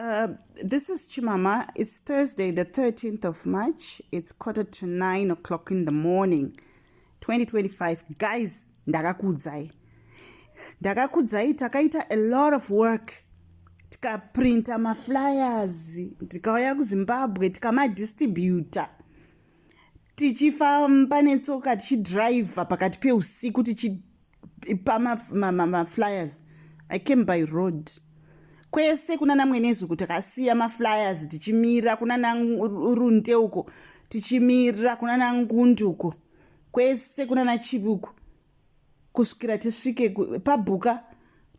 Uh, this is Chimama. It's Thursday, the 13th of March. It's quarter to 9 o'clock in the morning, 2025. Guys, ndakakudzai. Ndakakudzai, takaita a lot of work. Tikaprinta maflyers, tikauya kuZimbabwe, tikamadistributa. tichifamba netsoka tichidriver pakati peusiku tichipa maflyers i came by road kwese kuna namwenezuku takasiya maflyers tichimira kuna narunde uko tichimira kuna nangundi uko kwese kuna nachivi uko kusvikira tisvike pabhuka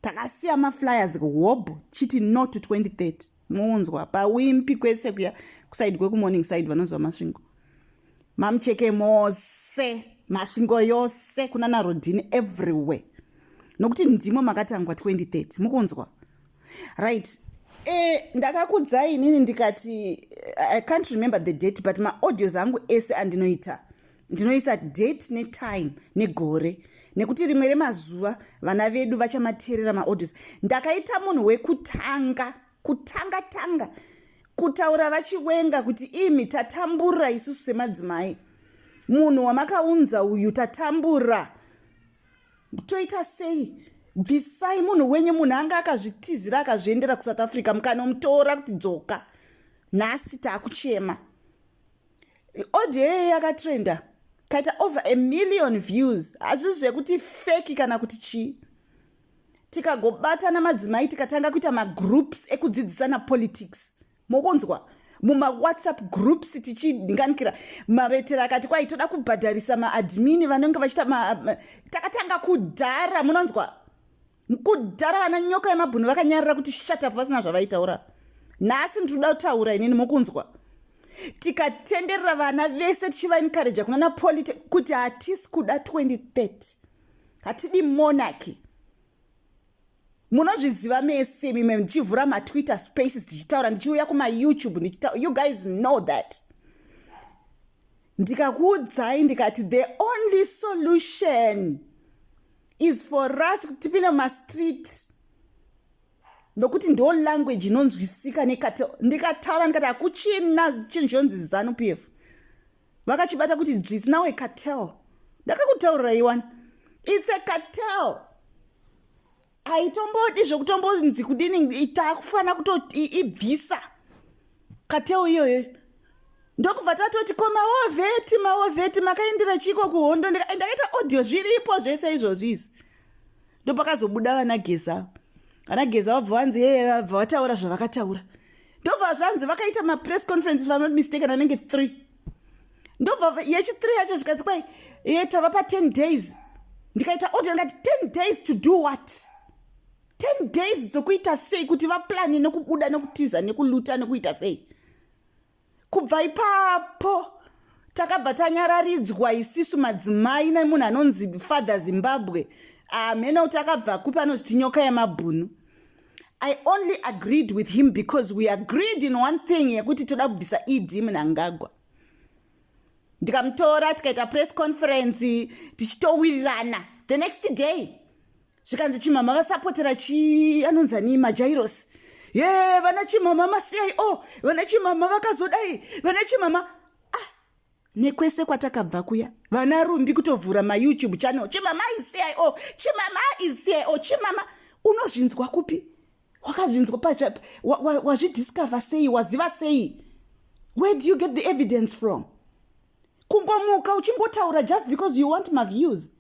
takasiya maflyers hobho chiti no to 2030 munzwa pawimpi kwese kuya kusaidi kwekumorning side vanonzwa masvingo mamucheke mose masvingo yose kuna narodhini everywhere nokuti ndimo makatangwa 2030 mukunzwa right e, ndakakudzai inini ndikati eh, i can't remember the date but maaudios angu ese andinoita ndinoisa date netime negore nekuti rimwe remazuva vana vedu vachamateerera maaudios ndakaita munhu wekutanga kutanga tanga kutaura vachiwenga kuti imi tatambura isusu semadzimai munhu wamakaunza uyu tatambura toita sei bvisai munhu wenyu munhu anga akazvitizira akazviendera kusouth africa mukanomutora kuti dzoka nhasi taakuchema audio iyoyo yakatrenda kaita over a million views hazvii zvekuti feki kana kuti chii tikagobatana madzimai tikatanga kuita magroups ekudzidzisana politics mokunzwa mumawhatsapp groups tichidinganikira mavetera akati kwai toda kubhadharisa maadmini vanenge vachita takatanga kudhara munonzwa mkudhara vana nyoka yemabhunu vakanyarira kuti shatapu vasina zvavaitaura nhasi ndinoda kutaura inini mukunzwa tikatenderera vana vese tichivaencouraja kuna napoliti kuti hatisi kuda 2030 hatidi monaki munozviziva mese mimwe ndichivhura matwitter spaces tichitaura ndichiuya kumayoutube ndichita you guys know that ndikakuudzai ndikati the only solution is for us kuti tipinde mumastreet nokuti ndo language inonzwisika nekati ndikataura ndikati hakuchina chinhu chonzi zanu p f vakachibata kuti dzvisi nawe cartel ndakakutaurirai wani its a cartel haitombodi zvekutombonzi kudini takufanira kutoibvisa kateo iyoyo ndokubva tatoti ko maovheti maovheti makaendera chiko kuhondo ndakaita audio zviripo zvese izvozvi izvi ndopakazobuda vana geza vana geza vabva vanzi yeye vabva vataura zvavakataura ndobva zvanzi vakaita mapress conference vamamistake anenge three ndobva yechithree yacho zvikanzi kwai ye tava paten days ndikaita audio ndikati ten days to do what 10 days dzokuita sei kuti vaplani nekubuda nekutiza nekuluta nekuita sei kubva ipapo takabva tanyararidzwa isisu madzimai nemunhu anonzi father zimbabwe hamhena ah, kuti akabva kupi anoziti nyoka yemabhunu i only agreed with him because we agreed in one thing yekuti toda kubvisa ed munangagwa ndikamutora tikaita press conference tichitowirirana the next day zvikanzi chimama vasapotera chi anonzi ani majairosi ye vana chimama masiyai o oh, vana chimama vakazodai vana chimama ah, nekwese kwatakabva kuya vana rumbi kutovhura mayoutube channel chimama isiyai o oh, chimama isiyai o oh, chimama unozvinzwa kupi wakazvinzwa wazvidiscover wa, wa sei waziva sei where do you get the evidence from kungomuka uchingotaura just because you want maviews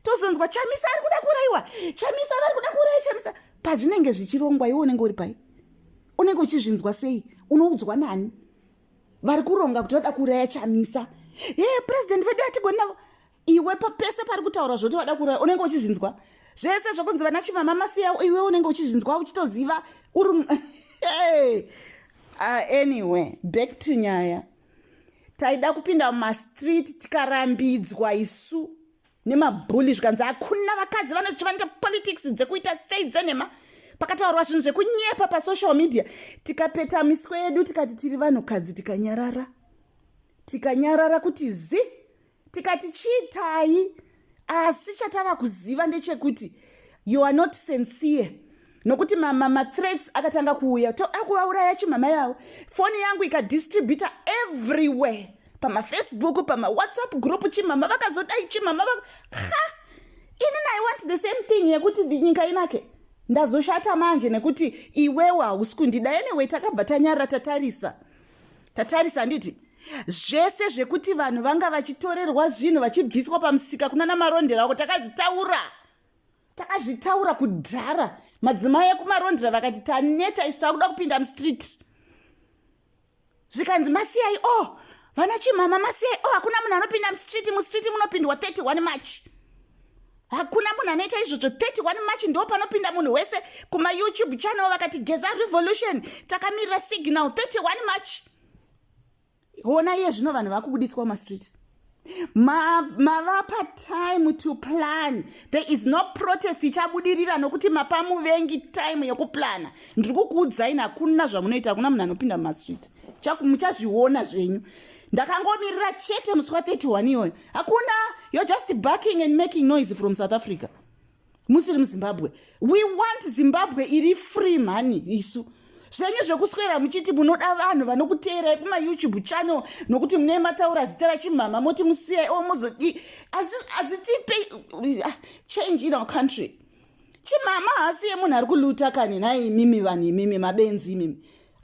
tozonzwa chamisa ari kuda kuuraiwa chamisa vari kuda kuuraya chamisa pazvinenge zvichirongwa iwe unenge uri pai unenge uchizvinzwa sei unoudzwa nani vari kuronga kuti vada kuuraya chamisa he purezidendi vedu atigoni navo iwe papese pari kutaura zvoti vada kuuraya unenge uchizvinzwa zvese zvokunzi vana chimama masiya iwe unenge uchizvinzwa uchitoziva uri uh, anyway back to nyaya taida kupinda mumastreet tikarambidzwa isu nemabhuli zvikanzi hakuna vakadzi vanoti vanoita politics dzekuita sei dzenhema pakataurwa zvinhu zvekunyepa pasocial media tikapeta miswe yedu tikati tiri vanhukadzi tikanyarara tikanyarara kuti zi tikati chiitai asi chatava kuziva ndechekuti you are not sincere nokuti mamathreats akatanga kuuya toakuvauraya chimama yavo foni yangu ikadistributa everywhere pamafacebook pamawhatsapp group chimama vakazodai chimama va ha ini i want the same thing yekuti nyika inake ndazoshata manje nekuti iwewo hausi kundida anyway takabva tanyarira tatarisa tatarisa handiti zvese zvekuti vanhu vanga vachitorerwa zvinhu vachibviswa pamusika kuna namarondera ako takazvitaura takazvitaura kudhara madzimai ekumarondera vakati taneta isu takuda kupinda mustreet zvikanzi masiyai o oh, vana chimama masiyai o oh, hakuna munhu anopinda mustreet mustreet munopindwa 31 march hakuna munhu anoita izvozvo 31 march ndo panopinda munhu wese kumayoutube channel vakati geza revolution takamirira signal 31 march hona iye zvino vanhu vakubuditswa mumastreet mavapa ma time to plan there is no protest ichabudirira nokuti mapa muvengi time yokuplana ndiri kukuudzaini hakuna zvamunoita hakuna munhu anopinda mumastreet muchazviona zvenyu ndakangomirira chete musi wa 31 iyoyo hakuna you're just backing and making noise from south africa musiri muzimbabwe we want zimbabwe iri free mhani isu zvenyu zvekuswera muchiti munoda vanhu vanokuteerai kumayoutube channel nokuti mune mataura zita rachimhama moti musiyai o mozodii hazvitipe ah, change in our country chimhama haasiye munhu ari kuluta kani nhai imimi vanhu imimi mabenzi imimi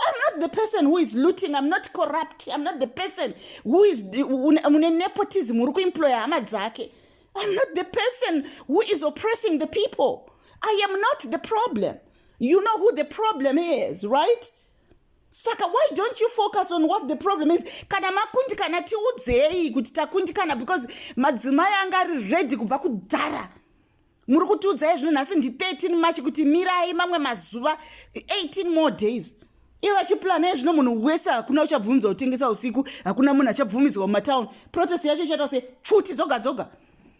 I'm not the person who is looting. I'm not corrupt. I'm not the person who is mune nepotism uri kuemployer hama dzake. I'm not the person who is oppressing the people. I am not the problem. You know who the problem is, right? saka why don't you focus on what the problem is kana makundikana tiudzei kuti takundikana because madzimai anga ari ready kubva kudhara muri kutiudzai zvino nhasi ndi 13 march kuti mirai mamwe mazuva 18 more days ivo vachiplana yezvino munhu wese hakuna uchabvumidzwa kutengesa usiku hakuna munhu achabvumidzwa mumatown protest yacho ichaita se pfuti dzoga dzoga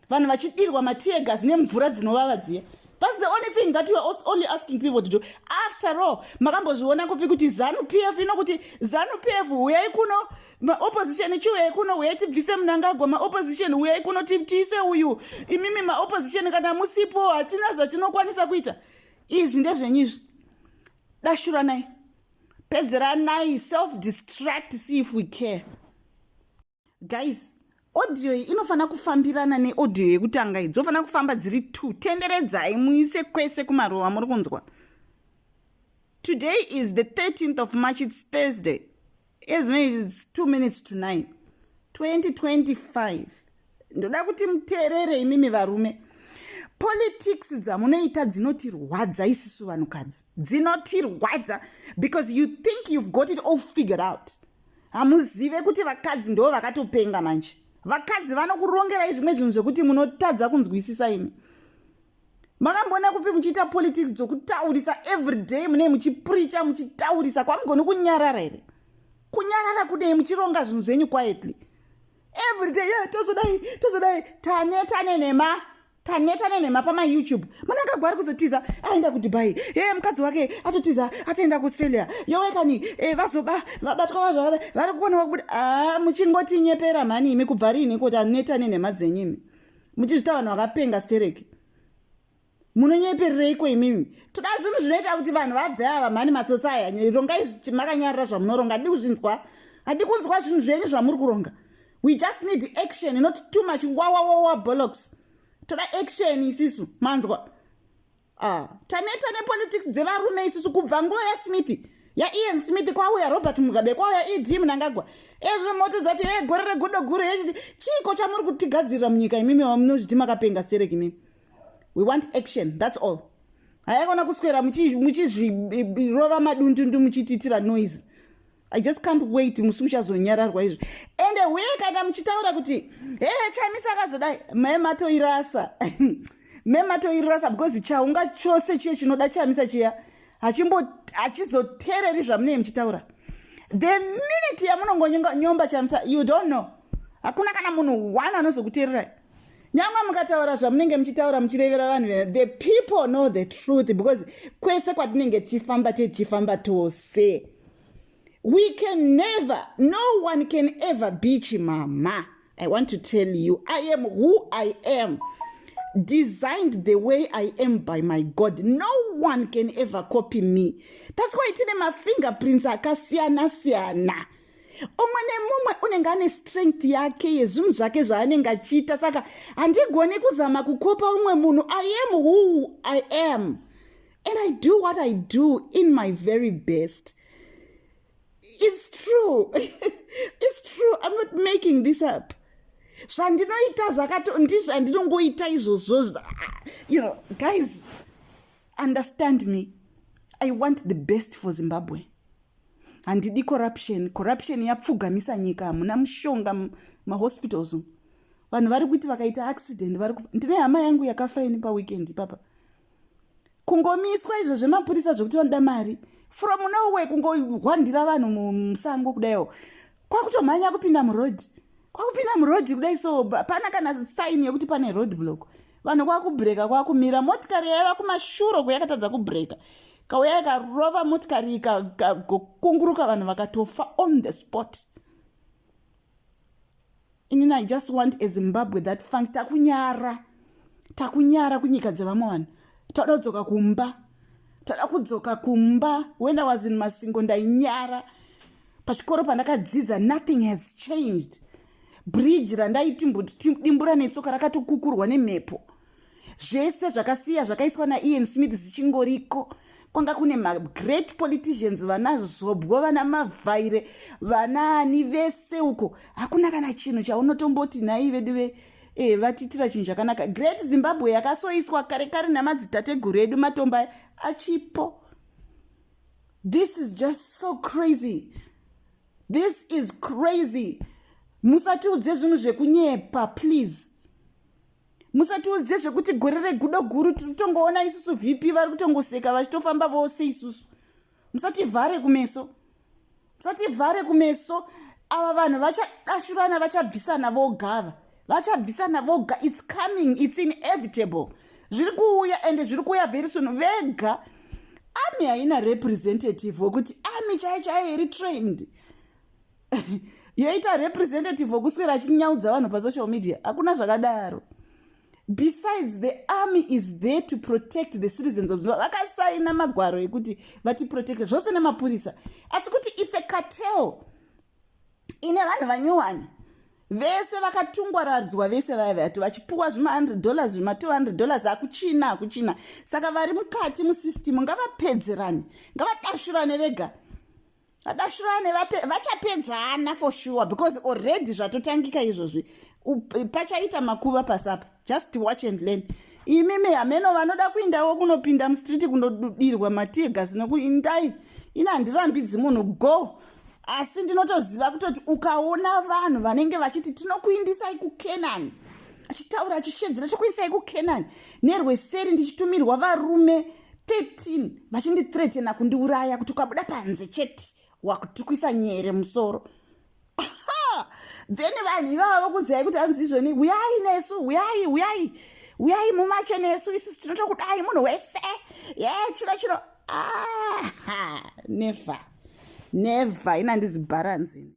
vanhu vachidirwa matiegas nemvura dzinovava dziya thats the only thing that youare only asking people to do after all makambozviona kupi kuti zanu p f ino kuti zanu p f huyai kuno maopposition chiuyai kuno huyai tibvise munangagwa maopposition huyai kuno tibtiise uyu imimi maopposition kana musipo hatina zvatinokwanisa kuita izvi ndezvenyu izvi dashuranai pedzeranai self distract see if we care guys audio iyi inofanira kufambirana neaudio yekutanga iyi dzofanira kufamba dziri two tenderedzai muise kwese kumaruva muri kunzwa today is the 13th of march its thursday ezvino its two minutes to nine 2025 ndoda kuti muteerere imimi varume politics dzamunoita dzinotirwadza isisu vanhukadzi dzinotirwadza because you think you've got it all figured out hamuzive kuti vakadzi ndo vakatopenga manje vakadzi vanokurongerai zvimwe zvinhu zvekuti munotadza kunzwisisa imi makamboona kupi muchiita politics dzokutaurisa everyday munei muchipricha muchitaurisa kwamugoni kunyarara here kunyarara kudei muchironga zvinhu zvenyu quietly everyday yeah, tozodai tozodai taneta nenhema taneta nenhema pamayoutube mwana akagwari kuzotiza aenda kudubai e hey, mukadzi wake atotiza atoenda kuaustralia yowekani e eh, vazoba vabatwa vazvavada vari kukonewa kubuda a ah, muchingotinyepera mhani imi kubva riini kuti aneta nenhema dzenyimi muchizvita vanhu vakapenga stereki munonyeperereiko imimi toda zvinhu zvinoita kuti vanhu vabve ava mhani matsotsi aya rongai makanyarira zvamunoronga hadi kuzvinzwa hadi kunzwa zvinhu zvenyu zvamuri kuronga we just need action not too much wawawawa bolox toda action isisu manzwa ah, taneta nepolitics dzevarume isusu kubva nguva yasmith yaian smith kwauya robert mugabe kwauya ed munangagwa ezvo moto dzati e gore regudo guru hechiti chiiko chamuri kutigadzirira munyika imimi vamunozviti makapenga sterek imimi we want action thats all haikona kuswera muchizvirova madundundu muchitiitira noise i just can't wait musi uchazonyararwa izvo ende huye kana muchitaura kuti hee chamisa akazodai me matoirasa me matoirasa because chaunga chose chiye chinoda chamisa chiya hachizoteereri zvamunee muchitaura the minute yamunongonyomba chamisa you don't know hakuna kana munhu one anozokuteererai nyangwe mukataura zvamunenge muchitaura muchirevera vanhu vena the people know the truth because kwese kwatinenge tichifamba tichifamba tose we can never no one can ever be chimama i want to tell you i am who i am designed the way i am by my god no one can ever copy me that's why tine mafingerprints akasiyana siyana, siyana. umwe nemumwe unenge ane strength yake yezvinhu zvake zvaanenge achiita saka handigoni kuzama kukopa umwe munhu i am who i am and i do what i do in my very best it's true it's true i'm not making this up zvandinoita zvakato ndizvandinongoita izvozvo you know guys understand me i want the best for zimbabwe handidi corruption corruption yapfugamisa nyika hamuna mushonga mahospitals vanhu vari kuti vakaita accident vari ndine hama yangu yakafa ini paweekend ipapa kungomiswa izvo zvemapurisa zvekuti vanoda mari from noway kungohwandira vanhu musango kudaiwo kwakutomhanya kupinda muroad kwakupinda muroad kudai so hapana kana sign yekuti pane road block vanhu kwakubreka kwakumira motikari yaiva kumashuro kuyakatadza kubreka kauya ikarova motikari ikakunguruka vanhu vakatofa on the spot inini i just want ezimbabwe that funk takunyara takunyara kunyika dzevamwe vanhu toda kudzoka kumba toda kudzoka kumba when i was in masingo ndainyara pachikoro pandakadzidza nothing has changed bridge randaitimbura netsoka rakatokukurwa nemhepo zvese zvakasiya zvakaiswa naian smith zvichingoriko kwanga kune magreat politicians vana zobwo vana mavhaire vana ani vese uko hakuna kana chinhu chaunotomboti nhai vedu ve e, vatiitira chinhu chakanaka great zimbabwe yakasoiswa kare kare namadzidateguru edu matomba achipo this is just so crazy this is crazy musatiudze zvinhu zvekunyepa please musatiudze zvekuti gore regudo guru tiri kutongoona isusu vp vari kutongoseka vachitofamba vose isusu musativhare kumeso musativhare kumeso ava vanhu vachadashurana vachabvisana vogava vachabvisana voga its coming its inevitable zviri kuuya ende zviri kuuya very soon vega army haina representative wekuti army chai chai iri trained yoita representative wokuswera achinyaudza vanhu pasocial media hakuna zvakadaro besides the army is there to protect the citizens of zimbabwe vakasaina magwaro ekuti vatiprotecte zvose nemapurisa asi kuti its a cartel ine vanhu vanyuwani vese vakatungwaradzwa vese vaya vati vachipuwa zvima100 dollars zvima200 dollars akuchina akuchina saka vari mukati musystem ngavapedzerane ngavadashurane vega vadashurane vachapedzana for sure because already zvatotangika izvozvi pachaita makuva pasapa just watch and learn imimi hameno vanoda kuindawo kunopinda mustreet kunodirwa matigas nokuindai ini handirambidzi munhu go asi ndinotoziva kutoti ukaona vanhu vanenge vachiti tinokuindisai kucanani achitaura achishedzera tokuindisai kucanani nerweseri ndichitumirwa varume 13 vachindithretena kundiuraya kuti ukabuda panze chete wakutukwisa nyere musoro then vanhu ivava vokudzai kuti anzi izvoni huyai nesu huyai huyai uyai mumache nesu isusu tinotokudai munhu wese ye chiro chiro aha never never inandizibharanzini